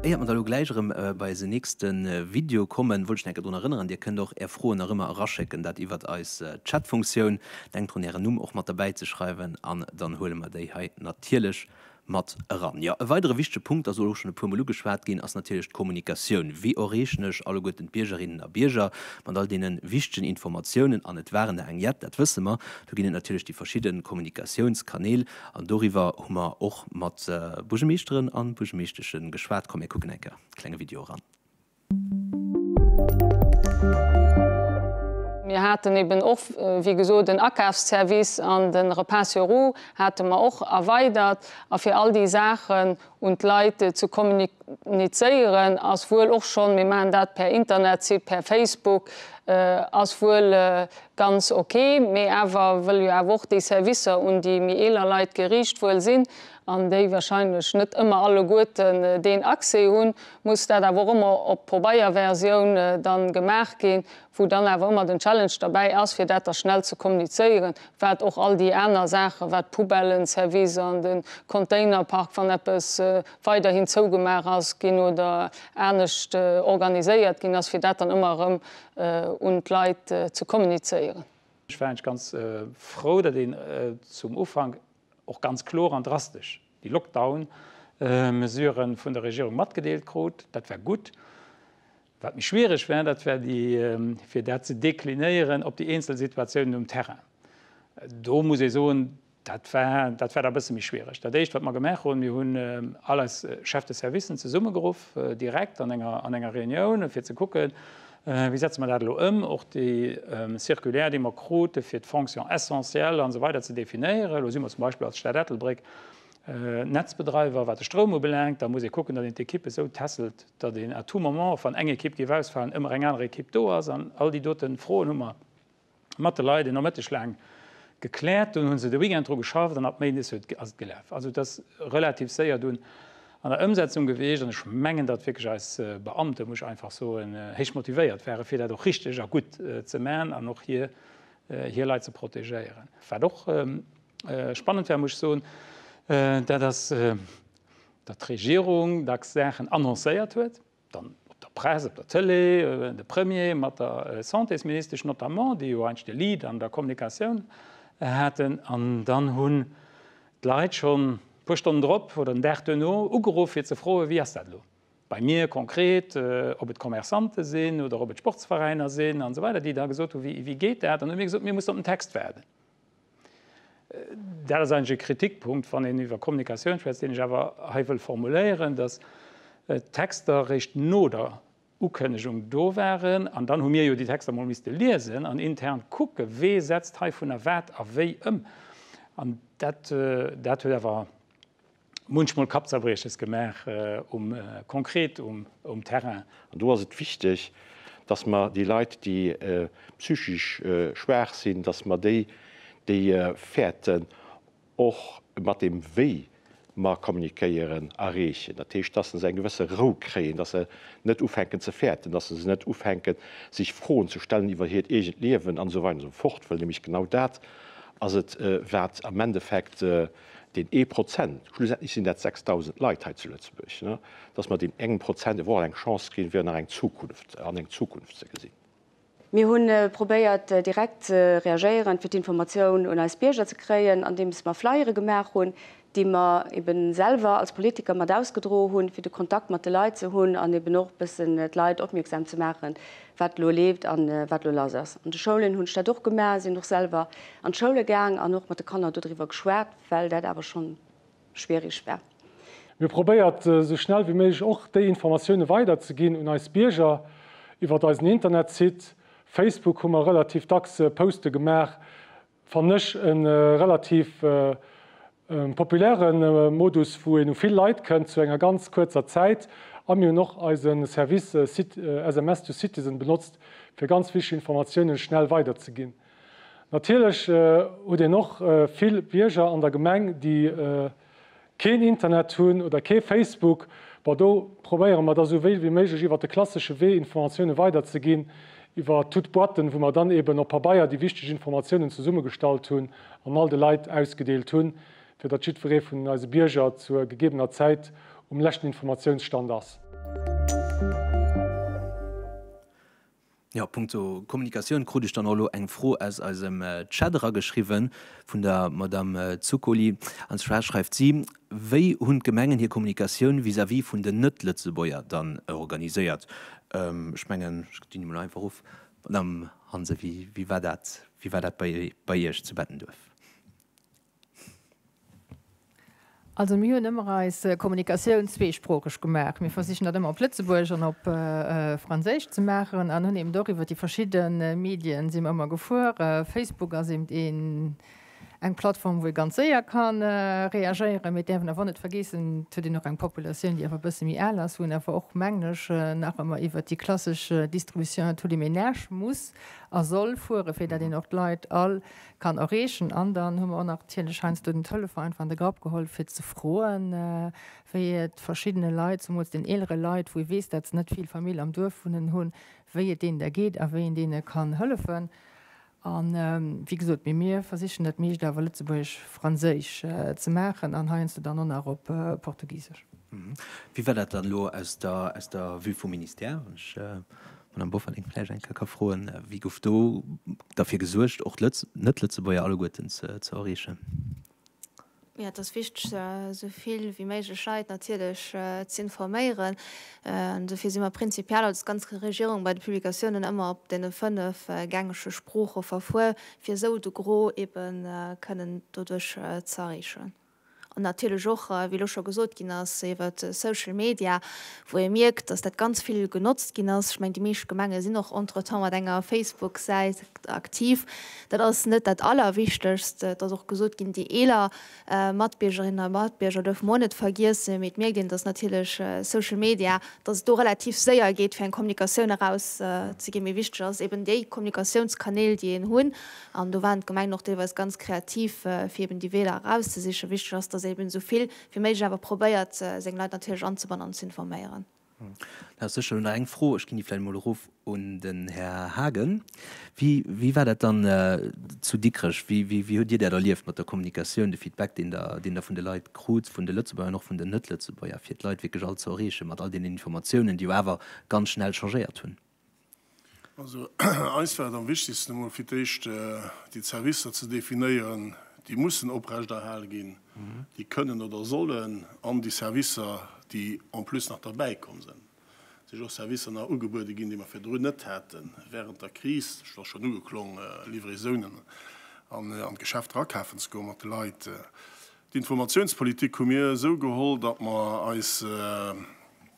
Éiert mer da lo gläich erëm bei eisen nächste Video kommen, wollt ech nach enke drun erënneren, Dir kënnt och Är Froen nach ëmmer eraschécken, dat iwwert eis Chatfunktioun. Denkt drun Ären Numm och mat derbäi ze schreiwen an dann huele mer déi hei natierlech mat eran. Jo, e weidere wichtege Punkt ass elo och schonn e puermol ugeschwat ginn, ass natierlech d'Kommunikatioun. Wéi erreechen ech alleguerten d'Biergerinnen a Bierger mat all deene wichtegen Informatiounen? An et waren der eng jett, dat wësse mer. Do ginn et natierlech déi verschidde Kommunikatiounskanäl. An doriwwer hu mer och mat Buergemeeschteren an Buergemeeschteschen geschwat. Komm mir kucken enk e klenge Video eran. Mir haten eben och wéi gesot en Akafsservice an den Repas sur roues hate mer och erweidert a fir all déi Saachen un d'Leit ze kommunizéieren ass wuel och schonn, mir maachen dat per Internetsite, per Facebook, ass wuel ganz ok, mee awer wëll jo awer och déi Servicer un déi méi eeler Leit geriicht wuel sinn an déi wahrscheinlech net ëmmer alleguerten deen Accès hunn, muss dat awer och ëmmer op Pobeierversioun dann gemaach ginn, wou dann awer ëmmer den Challenge derbäi ass, fir dat da schnell ze kommunizéieren, wat och all déi aner Saachen, wat d'Poubellenservice an de Containerpark, wann eppes weiderhin zougemaach ass ginn oder anescht organiséiert ginn ass, fir dat dann ëmmer erëm un d'Leit ze kommunizéieren. Ech war eigentlech ganz frou, datt een zum Ufank, och ganz kloer an drastesch déi Lockdown-Mesuren vun der Regierung matgedeelt krut. Dat war gutt. Wat méi schwiereg war, dat war déi, fir dat ze deklinéieren op déi eenzel Situatiounen um Terrain. Do muss ee soen, dat war, dat war da e bësse méi schwiereg. Dat Éischt, wat mer gemaach hunn, mir hunn all eis Chefs de service zesummegeruff, direkt an enger, an enger Reunioun, fir ze kucken, Wéi setze mer dat elo ëm? Och déi Circulaire, déi mer krute fir d'Fonction essentielle an esou weider ze definéieren. Elo si mer zum Beispill als Stad Ettelbréck Netzbedreiwer, wat de Stroum ubelaangt. Da muss ee kucken, datt een d'Ekippe esou tässelt, datt een à tout moment, wann eng Ekipp géif ausfalen, ëmmer eng aner Ekipp do ass. An all déi dote Froen hu mer mat de Leit e Nomëtteg laang gekläert, dunn hu se de Weekend dru geschafft an ab Méindes huet ass et gelaf. Also et ass relativ séier dunn an der Ëmsetzung gewiescht an ech mengen, datt wierklech eis Beamte, muss ech einfach soen, héich motivéiert ware fir dat och richteg a gutt ze man an och hir hir Leit ze protegéieren. Wat och spannend war, muss ech soen, dat ass, datt d'Regierung dacks Saachen annoncéiert huet, Dann op der Press, op der Tëlee, de Premier mat der Santésministesch notamment, déi jo eidg de Lead an der Kommunikatioun haten. An dann hunn d'Leit schonn e puer Stonnen drop oder den Dag duerno ugeruff, fir ze froen, wéi ass dat elo bei mir konkret, ob et Commerçante sinn oder ob et Sportsveräiner sinn an esou weider, déi da gesot hu, wéi geet dat? An da hu mir gesot, mir mussen op den Text waarden. Dat ass eigentlech e Kritikpunkt, wann een iwwer Kommunikatioun schwätzt, deen ech awer hei wëll formuléieren, dass d'Texter eréischt no der Ukënnegung do waren. An dann hu mir jo déi Texter emol misste liesen an intern kucke wee setzt heivunner wat a wéi ëm. An dat huet awer munchmol Kappzerbrieches gemaach, um konkret um Terrain. An do ass et wichteg, dass mer déi Leit, déi psychisch schwaach sinn, dass mer déi, déi fäerten, och mat deem wéi mer kommunikéieren, erreechen. Dat heescht, dass se eng gewësse Rou kréien, dass se net ufänken ze fäerten, dass se net ufänken sech Froen ze stellen iwwer hiert eegent Liewen an esou weider an esou fort, well nämlech genau dat ass et wat am Endeffekt deen ee Prozent, schlussendlech sinn dat 6.000 Leit hei zu Lëtzebuerg, dass mer deem engem Prozent eventuell eng Chance ginn, fir nach eng Zukunft, an eng Zukunft ze gesinn. Mir hu probéiert, direkt ze reagéieren, fir d'Informatioun un eis Bierger ze kréien, andeems mer Flyere gemaach hunn, déi mer eeben selwer als Politiker mat ausgedroe hunn, fir de Kontakt mat de Leit ze hunn an eeben och e bëssen d'Leit opmierksam ze maachen, wat elo leeft a wat elo lass ass. An de Schoulen hunn ech dat och gemaach, sinn och selwer an d'Schoule gaang an och mat de Kanner dodriwwer geschwat, well dat awer schonn schwierig war. Mir probéiert esou schnell wéi méiglech och déi Informatioune weider ze ginn un eis Bierger iwwert eisen Internetsite. Facebook hu mer relativ dacks Poste gemaach, Fannen ech e relativ populäre Modus, wou een u vill Leit kënnt zu enger ganz kuerzer Zäit. A mir hunn och eise Service SMS to Citizen benotzt, fir ganz wichteg Informatiounen schnell weiderzeginn. Natierlech huet een och vill Bierger an der Gemeng, déi Keen Internet hunn oder kee Facebook, bon do probéiere mer da sou wéi wéi méiglech iwwert de klassesche Wee Informatioune weider ze ginn, iwwer toute boîten, wou mer dann eben op Pabeier déi wichteg Informatiounen zesummegestallt hunn an all de Leit ausgedeelt hunn, fir datt jiddweree vun eise Bierger zur gegebener Zäit um leschten Informatiounsstand ass. Jo, punkto Kommunikatioun krut ech dann och elo eng Fro aus eisem Chat erageschriwwe vun der Madame Zuccoli. An zwar schreift si, Wéi hunn d'Gemengen hir Kommunikatioun vis-à-vis vun den Net-Lëtzebuerger dann organiséiert? Ech mengen, ech dinn emol einfach of, Madame Hansen, wéi war dat, wéi war dat bei Iech zu Bettenduerf? Also mir hunn ëmmer eis Kommunikatioun zweesproocheg gemaach. Mir versichen dat ëmmer op Lëtzebuergesch an op Franséisch ze maachen an hunn eben och iwwer déi verschidde Medien si mer ëmmer gefuer. Facebook ass eben een, eng Plattform, wou ee ganz séier ka reagéieren. Mee et däerf een awer och net vergeessen, et huet een och eng Populatioun, déi awer e bësse méi al ass, wou een awer och, mengen ech, nach ëmmer iwwer déi klassesch Distribution à tous les ménages muss a soll fueren, fir dat een och d'Leit all kann erreechen an dann hu mer och natierlech heiansdo den Telefon einfach an de Grapp geholl fir ze froen, wéi et verschiddene Leit, zemools den eelere Leit, wou ee weess, dat se net vill Famill am Duerf wunnen hunn, wéi et deenen da geet a wéi een deene kann hëllefen. A wéi gesot, mee mir versichen dat meescht awer lëtzebuergesch-franséisch ze maachen an heiansdo dann och nach op portugisesch. Wéi war dat dann elo aus der Vue vum Ministère? Madame Bofferding, vläicht eng Kéier ka froen, Wie gouf do derfir gesuergt, och d'Net-Lëtzebuerger alleguerten ze erreechen? Jo, et ass wichteg, esou vill wéi méiglech Leit natierlech ze informéieren. An dofir si mer prinzipiell als ganz Regierung bei de Publikatiounen ëmmer op deene fënnef gängege Sprooche verfuer, fir esou de Gros eebe kënnen doduerch ze erreechen. An natierlech och, wéi elo scho gesot ginn ass, iwwer Social Media, wou ee mierkt, datt dat ganz vill genotzt ginn ass. Ech mengen, déi meescht Gemenge sinn och entretemps mat enger Facebook-Säit aktiv. Dat ass net dat Allerwichtegst. Et ass och gesot ginn, déi eeler Matbiergerinnen a Matbierger duerfe mer och net vergiessen. Mee et mierkt een, datt natierlech Social Media, datt et do relativ séier geet, fir eng Kommunikatioun erauszeginn. Mee wichteg ass eben, déi Kommunikatiounskanäl, déi een hunn, An do waren d'Gemengen och deelweis ganz kreativ, fir eben déi Weeër erauszesichen. Wichteg ass, datt ee eben esou vill wéi méiglech awer probéiert, seng Leit natierlech anzebannen an ze informéieren. Da ass sécherlech nach eng Fro, ech ginn déi vläicht emol erof un den Här Haagen. Wéi, wéi war dat dann zu Dikrech? Wéi, wéi, wéi hutt Dir dat erlieft mat der Kommunikatioun, de Feedback, deen Der, deen Der vun de Leit krut, vun de Lëtzebuerger an och vun den Net-Lëtzebuerger, fir d'Leit wierklech all ze erreechen mat all deenen Informatiounen, déi jo awer ganz schnell changéiert hunn? Also eis war et am wichtegsten, emol fir d'éischt déi Servicer ze definéieren, déi mussen oprechterhal ginn, déi kënnen oder sollen, an déi Servicer, déi en plus nach derbäikomm sinn. Et si jo och Servicer nach ugebuede ginn, déi mer virdrun net haten, wärend der Kris, dat ass schonn ugeklongen, Livraisonen an d'Geschäfter akafen ze goen mat de Leit. D'Informatiounspolitik hu mir esou geholl, datt mer eis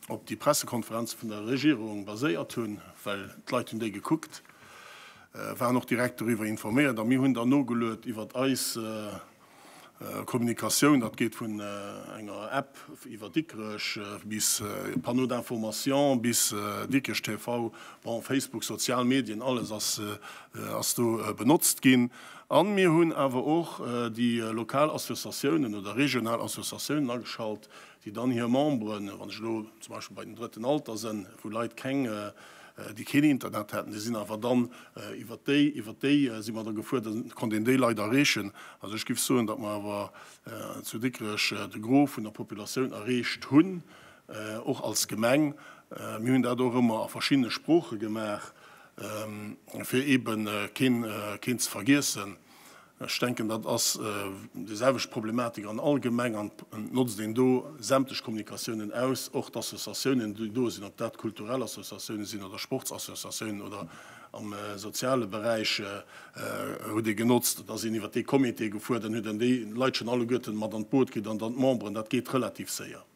op déi Pressekonferenze vun der Regierung baséiert hunn, well d'Leit hunn déi gekuckt, waren och direkt doriwwer informéiert a mir hunn dann nogeluet iwwert eis Kommunikatioun. Dat geet vun enger App iwwer Dikrech bis Panneaux d'information bis Dikrech TV, bon, Facebook, sozial Medien, alles ass do benotzt ginn. A mir hunn awer och déi lokal Associatiounen oder regional Associatiounen ageschalt, déi dann hir Memberen, wann ech elo zum Beispill bei den Drëtten Alter sënn, wou Leit keng, déi keen Internet hätten, déi sinn awer dann iwwert déi, iwwert déi si mer da gefuerdert, dann konnt een déi Leit erreechen. Also ech géif soen, datt mer awer zu Dikrech de Gros vun der Populatioun erreecht hunn, och als Gemeng. Mir hunn dat och ëmmer a verschiddene Sprooche gemaach. fir eebe keen ze vergiessen. Ech denken, dat ass déi selwecht Problematik an all Gemeng an et notzt een do sämtlech Kommunikatiounen aus, och d'Associatiounen, déi do sinn, ob dat kulturell Associatiounen sinn oder Sportsassociatiounen oder am soziale Beräich hutt Dir genotzt, et ass een iwwer dee Comité gefuer, dann huet een déi Leit schonn alleguerten mat an d'Boot kritt an dann d'Memberen, dat geet relativ séier.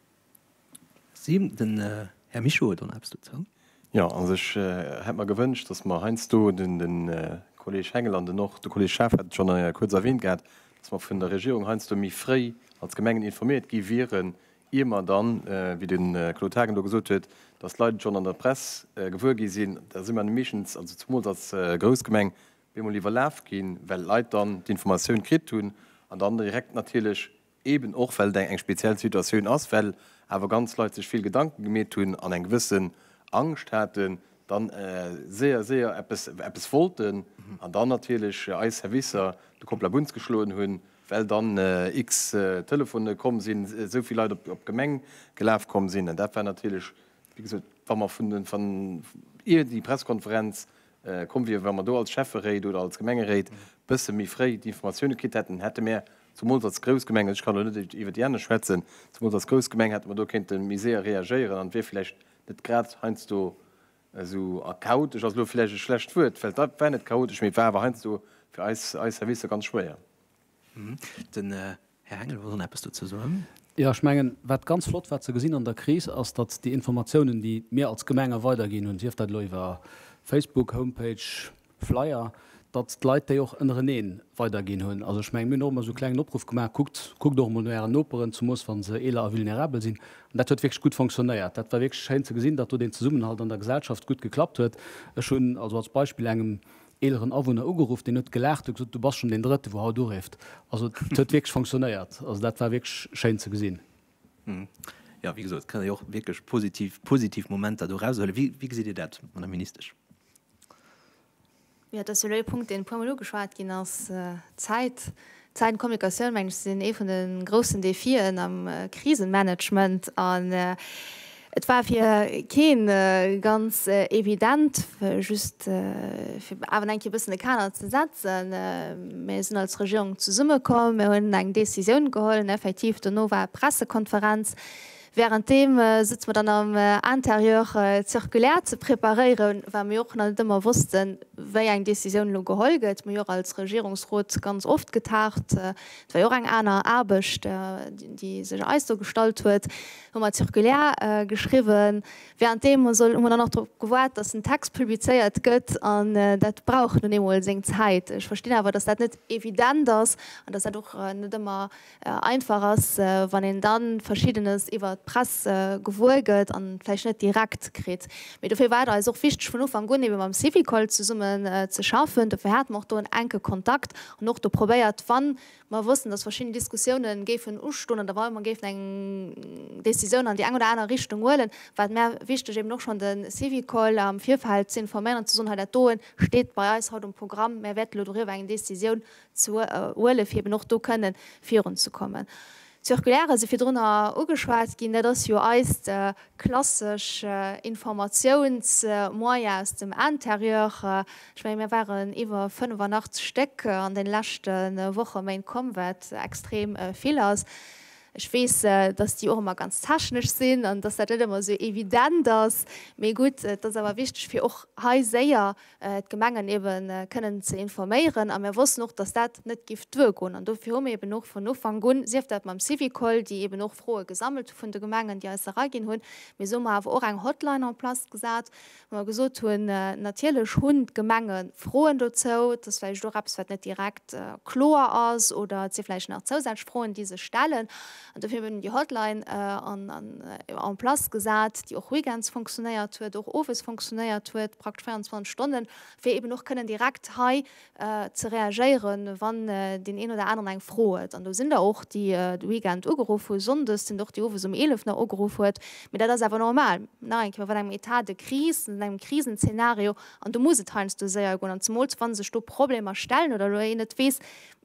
Si, den Här Mischo huet och nach eppes dozou. Jo, also ech hätt mer gewënscht, datt mer heiansdo, de Kolleeg Hengel an den och de Kolleeg Schaaf hat et schonn kuerz erwähnt gehat, datt mer vun der Regierung heiansdo méi fréi als Gemengen informéiert gi wieren, ier mer dann, wéi de Claude Haagen elo gesot huet, datt d'Leit et schonn an der Press gewuer gi sinn. Da si mer meeschtens, also zemools als grouss Gemeng, bemol iwwerlaf ginn, well d'Leit dann d'Informatioun kritt hunn an dann direkt natierlech Eben och well et eng speziell Situatioun ass, well awer ganz Leit sech vill Gedanken gemeet hunn an eng gewëssen Angscht haten, dann séier séier eppes wollten an dann natierlech eis Servicer de Kopf labunz geschloen hunn, well dann X Telefone komm sinn, esou vill Leit op d'Gemeng gelaf komm sinn. An dat war natierlech, wéi gesot, wa mer vun ier déi Pressekonferenz komm wier. Wa mer do als Schäfferéit oder als Gemengeréit e bësse méi fréi d'Informatioune kritt hätten, hätte mer zemools als grouss Gemeng, ech kann elo net iwwer déi aner schwätzen, zemools als grouss Gemeng hätte mer do kéinte méi séier reagéieren an et wier vläicht net grad heiansdo esou chaotesch, ass elo vläicht e schlecht Wuert, well et war net chaotesch, mee et war awer heiansdo fir eis Servicer ganz schwéier. Den Här Hengel wollt och eppes dozou soen. Jo, ech mengen, wat ganz flott war ze gesinn an der Kris, ass, datt déi Informatiounen, déi mir als Gemengen weiderginn hunn, sief dat elo iwwer Facebook, Homepage, Flyer, datt d'Leit déi och ënnereneen weiderginn hunn. Also ech mengen, mir hunn och ëmmer esou e klengen Opruff gemaach, Kuckt, kuckt och emol no Ären Noperen, zemoos wa se eeler a vulnerabel sinn. An dat huet wierklech gutt fonctionnéiert. Dat war wierklech schéin ze gesinn, datt do deen Zesummenhalt an der Gesellschaft gutt geklappt huet. Ech hunn also als Beispill engem eeleren Awunner ugeruff, deen huet gelaacht, huet gesot, du bass schonn deen Drëtten, wou haut urifft. Also et huet wierklech fonctionnéiert. Also dat war wierklech schéin ze gesinn. Jo, wéi gesot, et kënne jo och wierklech positiv, positiv Momenter do eraushuelen. Wéi, wéi gesitt Dir dat, Madame Ministesch? Jo, dat ass jo elo ee Punkt, deen e puermol ugeschwat ginn ass, d'Zäit. Zäit an Kommunikatioun, mengen ech, sinn ee vun de groussen Defien am Krisenmanagement. An et war fir kee ganz evident, just fir awer eng Kéier e bëssen de Kader ze setzen. Mir sinn als Regierung zesummekomm, mir hunn eng Décisioun geholl, effektiv. Dono war Pressekonferenz, Währenddeem sëtze mer dann am Intérieur circulaire ze preparéieren, well mir och nach net ëmmer wossten, wéi eng Décisioun elo geholl gëtt. Mir hu jo och als Regierungsrot ganz oft getagt. Et war jo och eng aner Aarbecht, déi sech eis do gestallt huet. Hu mer d'Circulaire geschriwwen. Währenddeem hu mer dann och drop gewaart, dass den Text publizéiert gëtt. An dat brauch nun eemol seng Zäit. Ech verstinn awer, dass dat net evident ass an dass dat och net ëmmer einfach ass, wann een da Verschiddenes iwwert d'Press gewuer gëtt an vläicht net direkt kritt. Mee dofir war et eis och wichteg vun Ufank un ebe mam Syvicol zesummen ze schaffen. Dofir hate mer och do en enke Kontakt an och do probéiert, wa mer wossten, datt verschidden Diskussioune géifen ustoen oder wa mer géifen eng Decisioun an déi eng oder aner Richtung huelen, war et mär wichteg eben och schonn de Syvicol am Virfeld ze informéieren an ze soen, hei dat doe steet bei eis haut um Programm, mär wäerten elo doriwwer eng Decisioun ze huelen, fir eben och do kënne virun ze kommen. D'Circulaire ass jo virdrun ugeschwat ginn. Dat ass jo eist klassesch Informatiounsmoyen aus dem Intérieur. Ech menge mir waren iwwer 85 Stéck an de leschte Woche, Méint komm, wat extrem vill ass. Ech weess, datt déi och ëmmer ganz technesch sinn an datt dat net ëmmer esou evident ass. Mee gutt, et ass awer wichteg fir och hei séier d'Gemengen ebe kënnen ze informéieren a mir wossten och, dass dat net giff duer goen an dofir hu mir eben och vun Ufank un, sief dat mam Syvicol, déi eben och Froe gesammelt hu vun de Gemengen, déi eis se eraginn hunn, mee esou hu mer awer och eng Hotline en place gesat, wou mer gesot hunn, natierlech hunn d'Gemenge Froen dozou, et ass vläicht och eppes wat net direkt kloer ass oder et si vläicht nach zousätzlech Froen, déi sech stellen. An dofir hunn déi Hotline en place gesat, déi och weekends fonctionnéiert huet, och owes fonctionnéiert huet, praktesch 24 Stonnen, fir eeben och kënnen direkt hei ze reagéieren, wann deen een oder aneren eng Fro huet. An do sinn der och, déi de Weekend ugeruff hu sonndes, sinn der och, déi owes um 11 nach ugeruff huet. Mee dat ass awer normal. Nach eng Kéier, Mir sinn an engem Etat de crise, an engem Krisenzeenario, an do muss et heiansdo séier goen. An zemools, wa sech do Problemer stellen oder elo een net weess,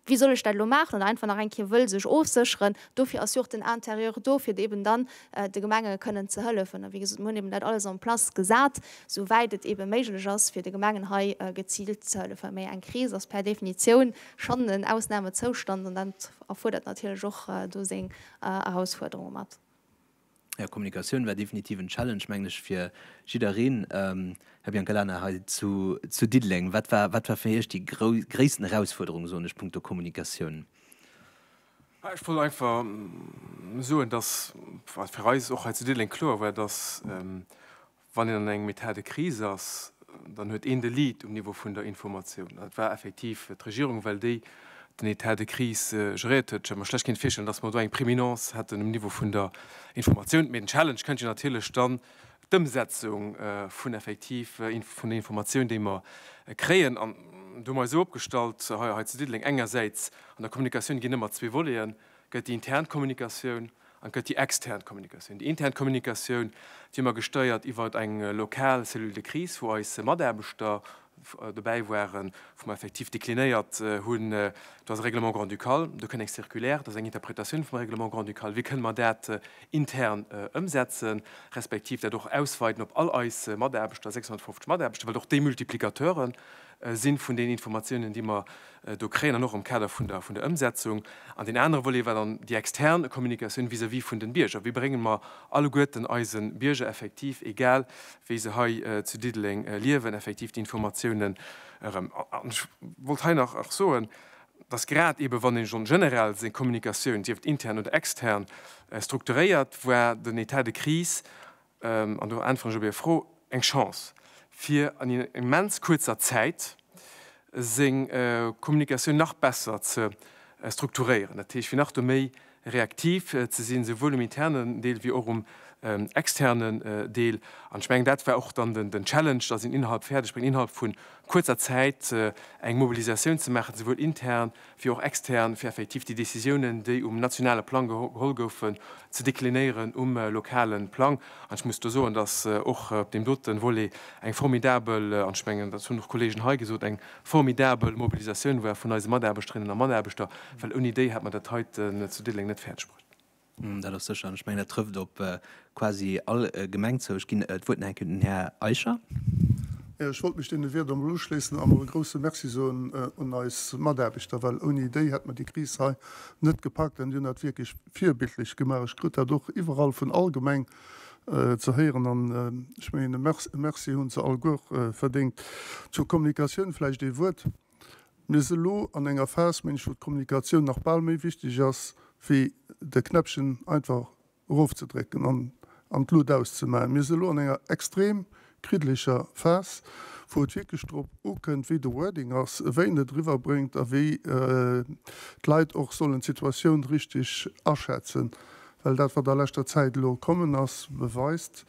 Wéi soll ech dat elo maachen? Oder einfach nach eng Kéier wëll sech ofsécheren. Dofir ass jo och den Intérieur do, fir eben dann de Gemenge kënnen ze hëllefen. A wéi gesot, mir hunn eben dat alles en place gesat, esou wäit et eben méiglech ass, fir de Gemengen hei geziilt ze hëllefen. Mee eng Kris ass per Definitioun schonn en Ausnamezoustand an dat erfuerdert natierlech och do seng Erausfuerderunge mat. Här Kommunikatioun war definitiv en Challenge, mengen ech, fir jiddereen. Här Biancalana, hei zu Diddeleng, wat war fir Iech déi gréissten Erausfuerderung, soen ech, punkto Kommunikatioun? Ech wollt einfach soen, dass, wat fir eis och hei zu Diddeleng kloer war, dass Wann een an engem Etat de crise ass, dann huet een de Lead um Niveau vun der Informatioun. Et war effektiv d'Regierung, well déi den Etat de crise geréiert huet. Ech hätt mer schlecht kéint virstellen, dass mer do eng Préminence hätten um Niveau vun der Informatioun. Mee den Challenge kënnt jo natierlech dann d'Ëmsetzung vun effektiv vun den Informatioun, déi mer kréien. An do hu mer eis esou opgestallt hei zu Diddeleng, engersäits an der Kommunikatioun ginn ëmmer zwee Voleten, gëtt déi intern Kommunikatioun An et gëtt déi extern Kommunikatioun. Déi intern Kommunikatioun, déi hu mer gestéiert iwwer eng lokal Cellule de crise, wou eis Mataarbechter dobäi waren, wou mer effektiv deklinéiert hunn, do ass e Règlement grand-ducal, do kënn eng Circulaire, do ass eng Interpretatioun vum Règlement grand-ducal, wéi kënne mer dat intern ëmsetzen, respektiv dat och ausweiten op all eis Mataarbechter, 650 Mataarbechter, well och déi Multiplicateure si vun den Informatiounen, déi mer do kréien, an och am Kader vun der Ëmsetzung. An deen anere Volet war dann déi extern Kommunikatioun vis-à-vis vun den Bierger. Wéi bréngen mer alleguerten eisen Bierger effektiv, egal wéi se hei zu Diddeleng liewen, effektiv déi Informatiounen erëm? An ech wollt hei nach och soen, dass grad eeben, wann een en général seng Kommunikatioun, sief et intern oder extern, strukturéiert, war den Etat de crise an do äntweren ech op Är Fro, eng Chance, fir an immens kuerzer Zäit seng Kommunikatioun nach besser ze strukturéieren, dat heescht, fir nach do méi reaktiv ze sinn, souwuel um internen Deel wéi och um externen Deel. An ech mengen, dat war och dann den Challenge, dass een innerhalb fäerdeg bréngt, innerhalb vu kuerzer Zäit eng Mobilisatioun ze maachen, souwuel intern, fir och extern, fir effektiv déi Décisiounen, déi um nationale Plang geholl goufen, ze deklinéieren um lokale Plang. An ech muss do soen, dass och op deem dote Volet eng formidabel, an ech mengen, dat hunn och d'Kollegen hei gesot, eng formidabel Mobilisatioun war vun eise Mataarbechterinnen a Mataarbechter, well ouni déi hätt mer dat heiten zu Diddeleng net fäerdegbruecht. Dat ass sécher. An ech mengen, dat trëfft op quasi all Gemeng zou. Ech ginn d'Wuert nach eng Kéier un den Här Eicher. Jo, ech wollt mech deene Wierder emol uschléissen an och e grouse Merci soen un eis Mataarbechter, well ouni déi hätt mer déi Kris hei net gepackt. An déi hunn dat wierklech virbildlech gemaach. Ech krut dat och iwwerall vun all Gemeng ze héieren an ech mengen, e Merci hunn se alleguer verdéngt. Zur Kommunikatioun vläicht ee Wuert. Mir si lo an enger Phas, mengen ech, wou d'Kommunikatioun nach bal méi wichteg ass wéi de Knäppchen einfach erofzedrécken an an d'Lut auszemaachen. Mir si lo an enger extrem kriddeleger Phas, wou et wierklech drop ukënnt, wéi de Wording ass, wéi een et eriwwerbréngt a wéi d'Leit och sollen d'Situatioun richteg aschätzen, well dat, wat a leschter Zäit elo kommen ass, beweist,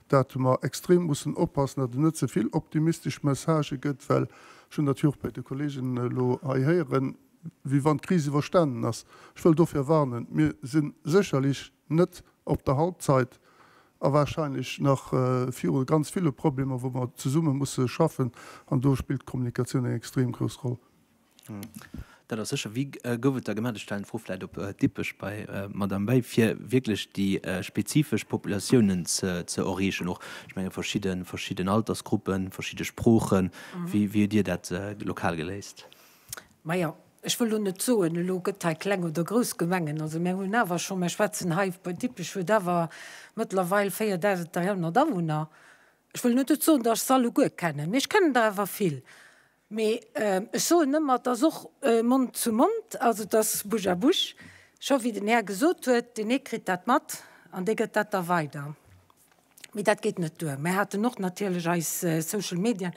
dat mer extrem mussen oppassen, datt et net ze vill optimistesch Messagë gëtt, well ech hunn dat jo och bei de Kolleegen elo hei héieren, wéi wann d'Kris iwwerstanen ass. Ech wëll dofir warnen. Mir si sécherlech net op der Halbzeit a warscheinlech nach viru ganz ville Problemer, wou mer zesumme musse schaffen, an do spillt d'Kommunikatioun eng extrem grouss Roll. Dat ass sécher. Wéi gouf et da gemaach? Ech stellen d'Fro vläicht op Dippech bei d'Madame Bay, fir wierklech déi spezifesch Populatiounen ze erreechen och, ech menge verschidden Altersgruppen, verschidde Sproochen. Wéi hutt Dir dat lokal geléist? Majo, ech wëll elo net soen, elo gëtt hei kleng oder grouss Gemengen. Also mir hunn awer scho, mir schwätzen hei, Dippech huet awer mëttlerweil 4.300 Awunner. Ech wëll elo net soen, datt ech se alleguer kennen, mee ech kennen der awer vill. Mee ech soen ëmmer, et ass och Mond zu Mond, also et ass Bouche à bouche. Scho wéi den Här gesot huet, deen ee kritt dat mat an dee gëtt dat da weider. Mee dat geet net duer. Mär haten och natierlech eis Social Medien,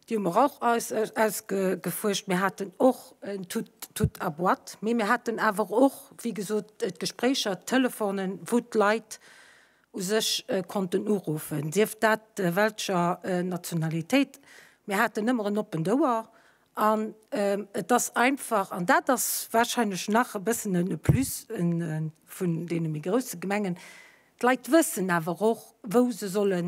déi hu mer och ausgefuerscht. Mir haten och en Tout à boîte, mee mir haten awer och, wéi gesot, d'Gespréicher, d'Telefonen, wou d'Leit u sech konnten uruffen, sief dat welscher Nationalitéit. Mir haten ëmmer en oppent Ouer an et ass einfach, an dat ass warscheinlech nach e bëssen e Plus vun deene méi grousse Gemengen, d'Leit wëssen awer och, wou se solle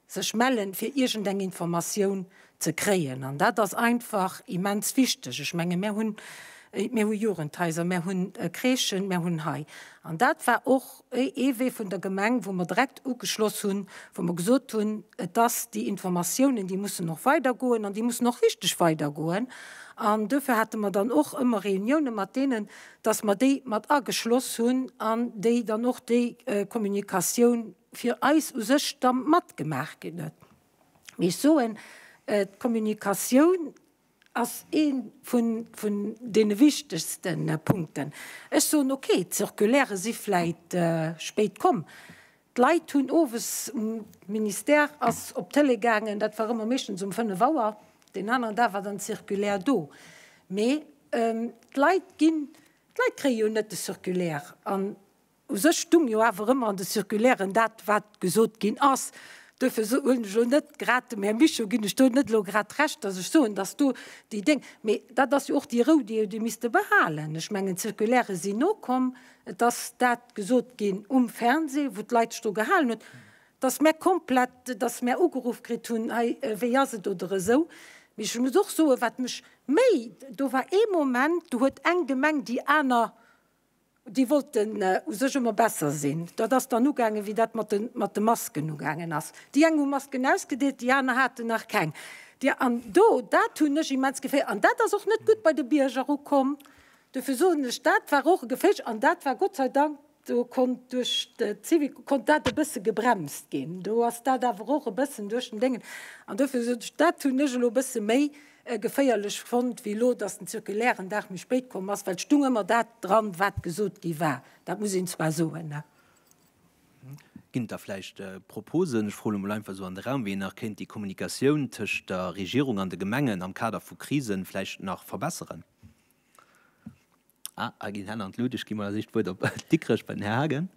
sech mellen fir iergend eng Informatioun ze kréien an dat ass einfach immens wichteg. Ech menge mär hunn mär hu Jugendhaiser, mär hunn Crèchen, mär hunn hei an dat war och ee Wee vun der Gemeng wou mer direkt ugeschloss hunn, wou mer gesot hunn, et ass déi Informatiounen déi mussen och weider goen an déi mussen och richteg weider goen an dofir hate mer dann och ëmmer Reunioune mat deenen, datt mer déi mat ageschloss hunn an déi dann och déi Kommunikatioun fir eis u sech da matgemaach ginn huet. Mee ech soen, d'Kommunikatioun ass ee vun deene wichtegste Punkten. Ech soen, okay, d'Circulairë si vläicht spéit komm, d'Leit hunn owes, d'Ministère ass op d'Tëlee gaangen, dat war ëmmer meeschtens um fënnef Auer, deen aneren Dag war dann d'Circulaire do. Mee d'Leit ginn, d'Leit kréie jo net de Circulaire an U sech stung jo awer ëmmer an de Circulairen dat, wat gesot ginn ass. Duerfir hunn ech elo net grad, dem Här Mischo ginn ech do net elo grad Recht, datt ech soen, datt do déi Déng. Mee dat ass jo och déi Rou, déi Der misste behalen. Ech mengen, d'Circulaire sinn nokomm. Et ass dat gesot ginn um Fernseh, wou d'Leit sech do gehalen hunn, datt mär komplett, datt mär ugeruff kritt hunn, hei, wéi ass et oder esou. Mee ech muss och soen, wat mech méi, do war ee Moment, do huet eng Gemeng déi aner Déi wollten u sech ëmmer besser sinn. Dat ass dann ugaangen, wéi dat mat de Masken ugaangen ass. Déi eng hu Masken ausgedeelt, déi aner haten nach keng. An do, dat hunn ech immens geféiert. An dat ass och net gutt bei de Bierger ukomm. Dofir soen ech, dat war och e Geféierch. An dat war Gott sei Dank, do konnt duerch d'Zivil konnt dat e bësse gebremst ginn. Do ass dat awer och e bëssen duerch den Déngen. An dofir soen ech, dat hunn ech elo e bësse méi geféierlech fonnt wéi elo, dass den Zirkulaire en Dag méi spéit komm ass, well et stung ëmmer dat dran, wat gesot gi war. Dat muss een zwar soen. Ginn et da vläicht Proposen, ech froen elo mol einfach esou an de Raum, wéi een nach kéint déi Kommunikatioun tëscht der Regierung an de Gemengen am Kader vu Krisen vläicht nach verbesseren? Ah, hei ginn Hänn an d'Lut. Ech ginn mol als éischt d'Wuert op Dikrech bei den Här Haagen.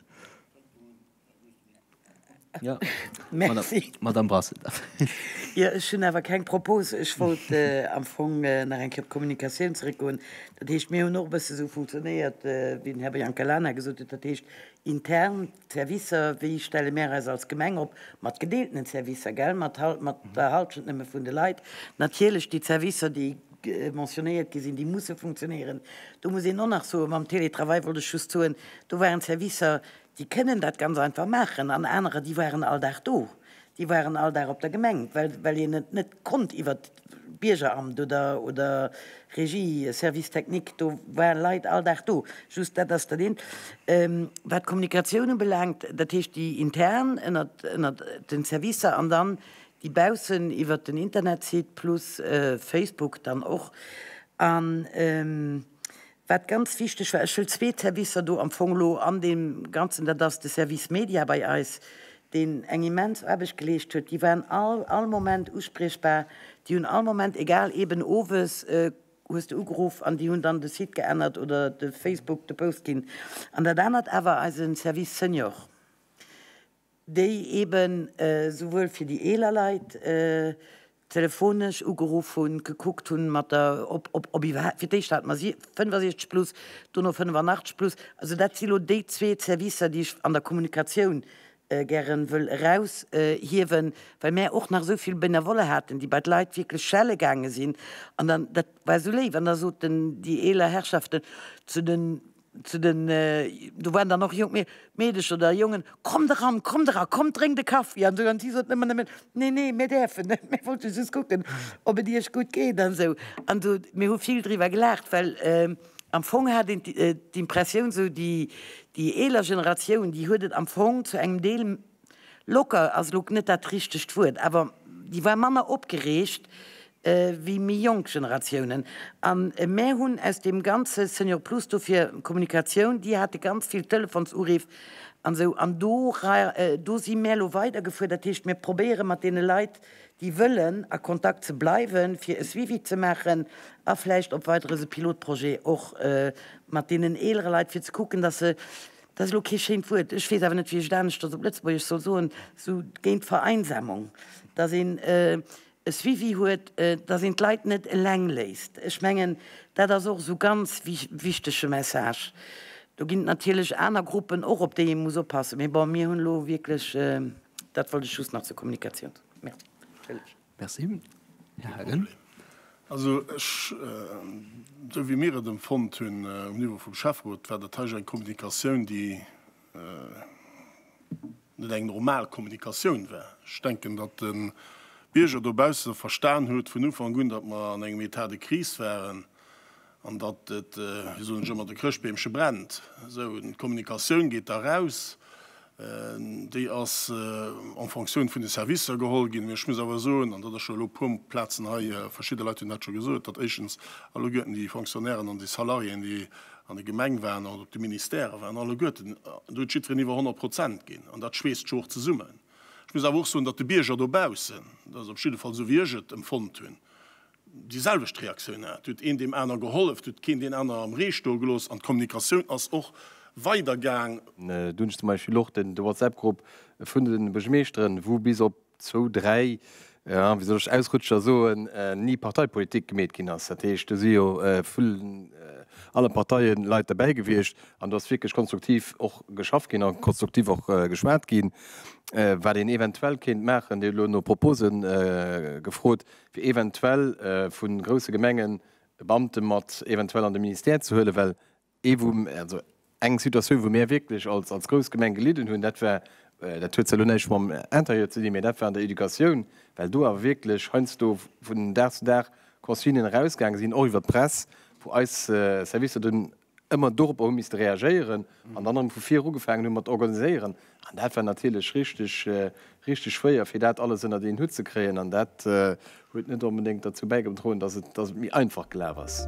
Jo, Madamm Brassel. Jo, ech hunn awer keng Propose. Ech wollt am Fong nach eng Kéier op d'Kommunikatioun zeréckgoen. Dat heescht, mir hunn och e bësse esou funktionéiert, wéi den Här Biancalana gesot huet, dat heescht intern. D'Servicer, wéi stelle mär eis als Gemeng op? Mat gedeeltenen Servicer, gell? Mat hal-, mat der Halschent nëmme vun de Leit. Natierlech déi Servicer, déi mentionnéiert gi sinn, déi musse funktionéieren. Do muss een och nach soen, mam Télétravail wollt ech just soen, do waren Servicer, déi kënnen dat ganz einfach maachen an anerer, déi waren all Dag do, déi waren all Dag op der Gemeng, well, well een et net konnt iwwert. Biergeramt oder, oder Régie, Service technique, do waren Leit all Dag do. Just dat ass dat eent. Wat d'Kommunikatioun ubelaangt, dat heescht déi intern ënnert, ënnert den Servicer an dann déi baussen iwwert den Internetsite plus Facebook dann och. An. Wat ganz wichteg war, ech wëll zwee Servicer do am Fong elo an deem Ganzen, dat ass de Service Media bei eis, deen eng immens Aarbecht geleescht huet. Déi waren all, all Moment uspriechbar. Déi hunn all Moment, egal eeben owes hues de ugeruff an déi hunn dann de Site geännert oder de Facebook, de Post ginn. An dat anert awer eisen Service Senior, déi eben souwuel fir déi eeler Leit telefonesch ugeruff hunn, gekuckt hunn mat der, ob, ob, ob iwwerhaapt, fir d'éischt hate mer 65 plus, dono 85 plus, also dat si lo déi zwee Servicer, déi ech an der Kommunikatioun gäre wëll eraushiewen, well mär och nach esou vill Benevolle haten, déi bei d'Leit wierklech schelle gaange sinn an dann, dat war esou léif, an da soten déi eeler Herrschaften zu de Zu den, do waren dann och jonk Meedecher oder Jongen, Kommt eran, kommt eran, kommt drénkt e Kaffi an esou. An si soten ëmmer nëmmen, Nee, nee, mir däerfen net, mir wollte just kucken, ob et Iech gutt geet an esou. An do, mir hu vill driwwer gelaacht, well am Fong hat een d'Impressioun, esou déi eeler Generatioun, déi huet et am Fong zu engem Deel Locker ass elo net dat richtegt Wuert, awer déi war manner opgereegt wéi méi jonk Generatiounen. A mär hunn aus deem ganze Senior Plus do fir Kommunikatioun, déi hate ganz vill Telefonsurriff an esou, an do do si mär elo weidergefuer. Dat heescht, mir probéiere mat deene Leit, déi wëllen, a Kontakt ze bleiwen, fir e Suivi ze maachen a vläicht op weider esou Pilotprojet och mat deenen eelere Leit, fir ze kucken, datt se Dat ass elo kee schéint Wuert, ech weess awer net, wéi ech et aneschters op Lëtzebuergesch soll soen, sou géint d'Vereinsamung, datt een e Suivi huet, datt een d'Leit net eleng léisst. Ech mengen, dat ass och esou ganz wichtege Message. Do ginn et natierlech aner Gruppen och, op déi ee muss oppassen. Mee bon, mir hunn elo wierklech, dat wollt ech just nach zur Kommunikatioun soen. Merci. Merci. Här Haagen. Also ech, esou wéi mir et emfonnt hunn um Niveau vum Schäfferot, war dat hei eng Kommunikatioun, déi net eng normal Kommunikatioun war. Ech denken, datt de Bierger dobausse verstan huet vun Ufank un, datt mer an engem État de crise waren An datt et, wéi soen ech ëmmer, de Chrëschtbeemche brennt. Esou, d'Kommunikatioun geet da raus, déi ass en Fonctioun vun de Servicer geholl ginn. Mee ech muss awer soen, an dat ass scho elo e puer Plazen hei, verschidde Leit hunn dat scho gesot, datt éischtens alleguerten déi Fonctionnairen an déi Salariéen, déi an de Gemeng waren oder op de Ministèrë waren, alleguerten, do huet jiddwereen iwwer 100 Prozent ginn. An dat schweesst scho och zesummen. Ech muss awer och soen, datt de Bierger dobaussen, dat ass op jidde Fall esou, wéi ech et empfonnt hunn, déi selwecht Reaktioun hat, et huet een deem aner gehollef, et huet keen deen aner am Ree stoe gelooss an d'Kommunikatioun ass och weider gaang. Do hunn ech zum Beispill och de WhatsApp-Grupp vun de Buergermeeschteren, wou bis op zwou, dräi, wéi soll ech, Ausrutscher soen, ni Parteipolitik gemeet ginn ass. Dat heescht, do si jo vu alle Parteie Leit derbäi gewiescht an do ass wierklech konstruktiv och geschafft ginn a konstruktiv och geschwat ginn, wat een eventuell kéint maachen. Dir hutt elo no Propose gefrot. fir eventuell vu grousse Gemengen e Beamte mat eventuell an de Ministère ze huelen, well ee wou, also eng Situatioun, wou mär wierklech als grouss Gemeng gelidden hunn, dat war, dat huet zwar elo näischt mam Intérieur ze dinn, mä dat war an der Educatioun, well do awer wierklech heiansdo vun Dag zu Dag Consignen erausgaange sinn, och iwwer d'Press, wou eis Servicer dunn ëmmer dorop hu misste reagéieren an dann erëm vu vir ugefaangen hu mat organiséieren an dat war natierlech richteg, richteg schwéier fir dat alles ënnert een Hutt ze kréien an dat huet net onbedéngt derzou bäigedroen, dass et, dass et méi einfach gelaf ass.